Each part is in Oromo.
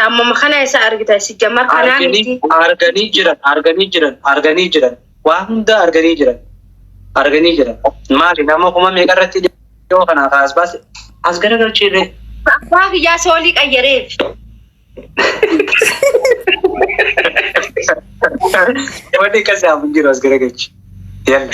Ammuma kana isa argita si jammar kanaa arganii miti. arganii jiran arganii jiran arganii jiran waa hundaa arganii jiran arganii jiran maali nama kuma meeqa irratti dhiyoo kanaa kaas baase as garagalchiirree Abbaa biyyaa soolii qayyareef. wanni akkasii hafu hin jiru as garagalchi yalla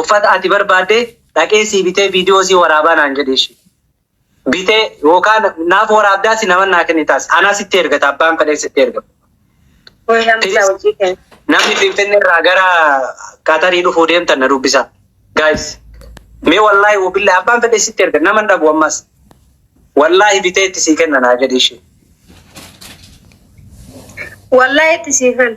uffata ati barbaadde dhaqee sii bitee viidiyoo sii waraabaa naan jedhe ishi bitee yookaan naaf waraabdaasi naman naa kennitaas anaa sitti ergata abbaan fedhee sitti ergama. Kun namni isaa hojii kee. Namni Finfinnee irraa gara Qatarii dhufuu deemtan na dubbisaa. Guys, mee wallaahi wabillaahi abbaan fedhee sitti erga naman dhabu ammas. Wallaahi bitee itti sii kenna naa jedhe ishi. Wallaahi itti siifan.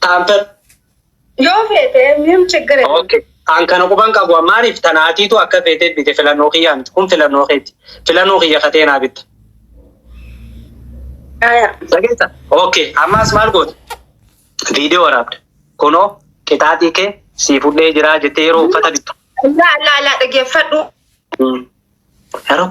Taamtan. Yoo feete miim chiggire. Okay. An kana quban qabu maaliif tanaatiitu akka feetee bite filannoo kiyyaa miti. Kun filannoo keeti. Filannoo kiyya katee naa bitta. Aya. Dhageessa. Okay. Ammaas maal goote? Viidiyoo waraabde. Kunoo qixaaxii kee sii fudhee jiraa jettee yeroo uffata bittu. Laa laa laa dhaggeeffadhu. Yeroo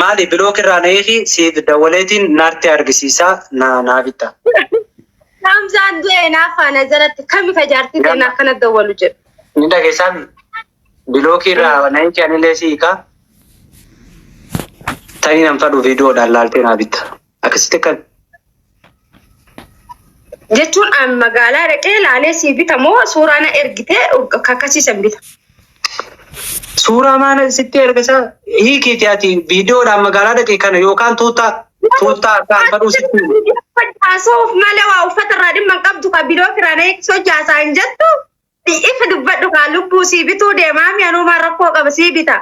Maali bilook irraa na hiiki siif dawwaleetiin naarti argisiisaa na naa bitta. Hamzaan du'e hinaaffaa na jalatti kami ka jaartii ta'e naaf kana dawwalu jedhu. Ni dhageessaa mi? Bilookii irraa na hiiki anilee si hiikaa. Tanii nan fadhu viidiyoodhaan laaltee naa bitta. Akkasitti akka Jechuun an magaalaa dhaqee laalee sii bita moo suuraa na ergitee kakkasiisan bita. suuraa maana sitti ergisa hiikiiti ati viidiyoodhaan magaalaa dhaqee kana yookaan tuutaa tuutaa akka alfadhuu sitti himu. Haasa'uuf malee waa uffata irraa dhimma hin qabdu kan bidoo kiraa na eegsisoo jaasaa hin jettu. Ifa dubbadhu kaa lubbuu sii bituu deemaa mi anuumaa rakkoo qaba sii bita.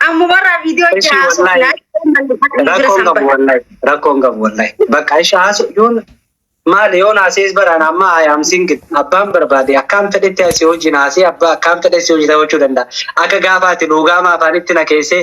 Ammumarraa viidiyoo Eshi jahaa suuf wallahi. laayii Rakkoon qabu wallahi. Rakkoon qabu wallahi. Bakka isha haasu yoon maali yoon haasees baraan amma I am single. Abbaan barbaade akkaan fedhetti asii hojiin haasee abbaa akkaan fedhe si hojii ta'uu danda'a. Akka gaafaati luugaama afaanitti na keessee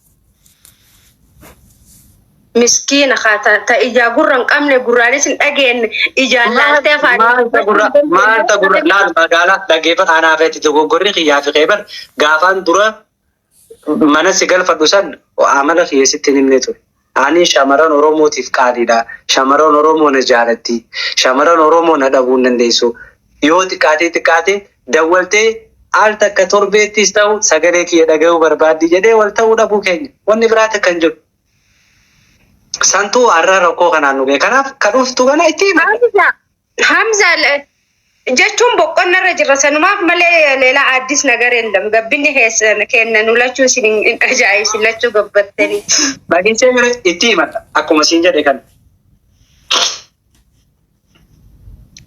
Miskiina haa ta, ta ijaa gurra hin qabne gurraanis hin dhageenye ijaan laaltee afaan Maalta gurra maalta gurra laal magaalaa dhaggeeffata anaa feeti dogoggorri kiyyaa fi keebar gaafaan dura mana si galfadhu san amala kiyya sitti hin himne ture. Ani shamarran Oromootiif qaaliidha. Shamarran Oromoo na jaalatti. Shamarran Oromoo na dhabuu hin dandeessu. Yoo xiqqaatee xiqqaate dawwaltee al takka torbeettis ta'u sagalee kiyya dhagayuu barbaaddi jedhee wal ta'uu dhabuu keenya wanni biraa takka hin jiru. Santuu har'a rakkoo kanaan nu ga'e. Kanaaf ka dhuftu kana itti hima. Hamza, Hamza le- jechuun boqonna irra jirra sanumaaf malee leelaa addis nagar yeellam gabbinni keessan kenna nu lachuu isin hin hin ajaa'ibsin lachuu gabbattanii. Dhageessee mire itti himadha. Akkuma siin jedhe kana.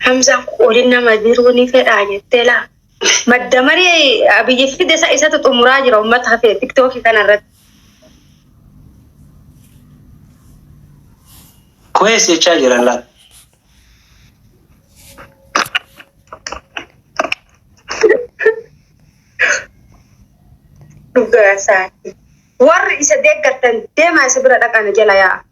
Hamzaan qoodin nama jiruu ni fedhaa jettee laa. Madda marii abiyyi fide isa isatu xumuraa jira uummata hafee tiktookii kana irratti. Koyees jechaa jiran laa. Dhugaa isaati. Warri isa deeggartan deemaa isa bira dhaqaa na jala yaa'a.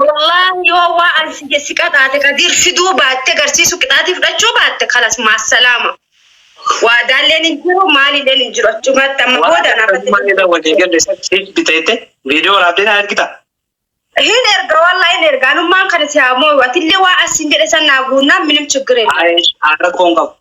Wallaahi yoo waa an si jesse qaxaate Kadiir fiduu baatte garsiisu qixaatii fudhachuu baatte kalas maassalaama. Waadaalleen hin jiru maalilleen hin jiru achumatti amma Waan booda akka naaf Kazumaan irra walii galle san siif biteette viidiyoo waraabdee naa ergita. hin erga wallaa hin erga anummaan kana si haa mooyu atillee waa an siin jedhe san naa guunnaan minim chiggir hin qabu. Ayesh haadha koo hin qabu.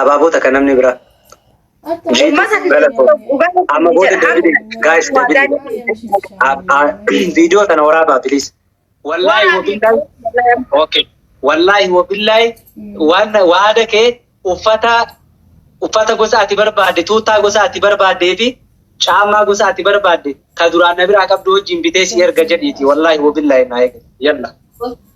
Abaaboo takka namni biraa. Amma booda deebiin gaayis deebiin viidiyoo sana waraabaa piliis. Wallaahi wabillahi. Okay. Wallaahi wabillahi waan waada kee uffata uffata gosa ati barbaadde tuutaa gosa ati barbaaddee fi caamaa gosa ati barbaadde ka duraan na biraa qabdu wajjin bitee si erga jedhiiti. Wallaahi wabillahi naa eega. Yalla.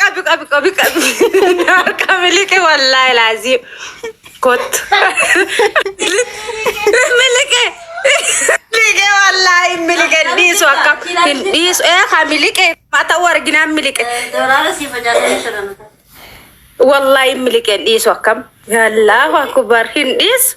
Qabi qabi qabi qabi. Harka miliqe wallaahi laazii. Kottu. Miliqe. Miliqe wallaahi hin miliqe hin dhiisu akka hin dhiisu. Ee haa miliqe haa ta'u arginaan miliqe. Dooraara siif ajaa'ibee jiran. Wallaahi hin miliqe hin dhiisu akkam. Yallaahu akbar hin dhiisu.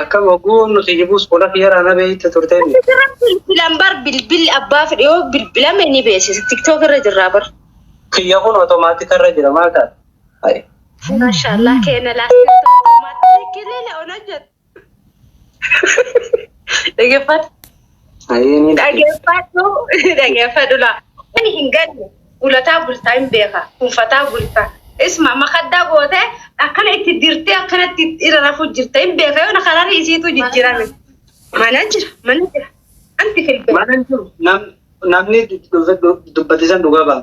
Akkam hogguu nu si jibuus qola kiyyaraa na beeyta turte inni. Asirra bilbilan bar bilbilli abbaa fedhe yoo bilbilame ni beeksisa. TikTok irra jirraa bar. Kiyya kun otomaatika irra jira maal taate? Hayi. Maashaallah keena laastiin tokko maatii kilila ona jedhu. Dhaggeeffadha. Ayeenii Dhageeffadhu dhageeffadhu laa. Ani hin galle gulataa bultaa hin beeka kunfataa bultaa. Isma makaddaa gootee akkana itti dirtee akkanatti irra rafuu jirta hin beeka yoo na kararii isiitu jijjiirame. Mana jira mana jira. Anti filbee. Mana hin jiru. Nam- Namni dubbatisan dhugaa ba'a.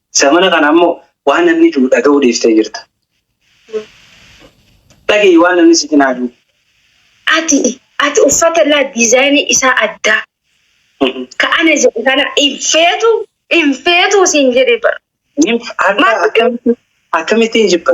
Zamana kana ammoo waan namni du'u dhaga'uu dhiiftee jirta. Dhaga'i waan namni si cinaa du'u. Ati ati uffata laa diizaayinii isaa addaa ka ana jedhu kana hin feetu hin feetu siin jedhe bara. Nin Maal akka akkamittiin jibba?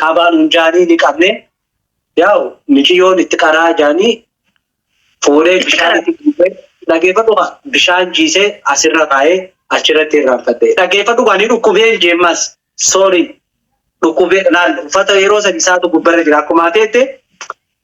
qabaa nun jaanii ni qabne yaa'u miciyyoon itti qaraa jaanii fuudhee bishaan itti dhiibee dhageeffadhu kaa bishaan jiisee asirra kaa'ee achirratti irraanfatte dhageeffadhu kaa ni dhukkubee jeemmas soorii dhukkubee laal uffata yeroo san isaatu gubbarra jira akkuma ateette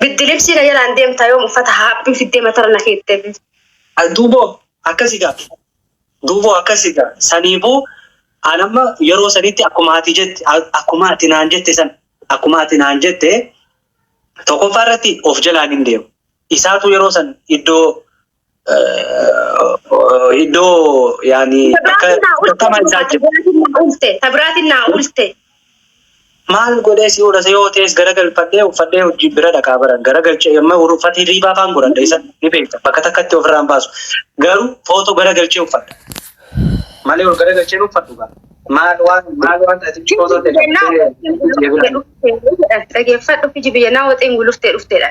Biddi libsii na jalaan deemta yoom uffata haaphiin fiddee matara na keette. Duuboo akkasi gaa duuboo akkasi gaa saniifuu an amma yeroo sanitti akkuma ati jette akkuma ati naan jette san akkuma ati naan jette tokkoffaa irratti of jalaan hin deemu isaatu yeroo san iddoo Iddoo yaani akka akkama isaa jiru. Tabiraatiin naa ulte. Maal godhee si oolase yoo ta'es gara galfadhee uffadhee hojii bira dhaqaa baran gara galchee amma uffati riibaa faan godhadha isa ni beekta bakka takkatti ofirraan baasu garuu footoo gara galchee uffadha malee ol gara galchee uffadhu gaa maal waan maal waan ati footoo Dhageeffadhu fi jibiyyanaa waxeen guluftee dhufteedha.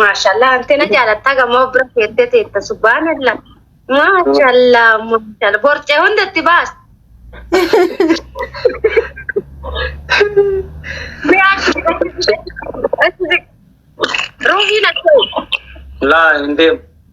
Maashaallah antena jaalattaa gamoo bira keettee teetta subhaanallah. Maashaallah maashaallah borcee hundatti baas. Ruuhiin akkoo. Laa hin deemu.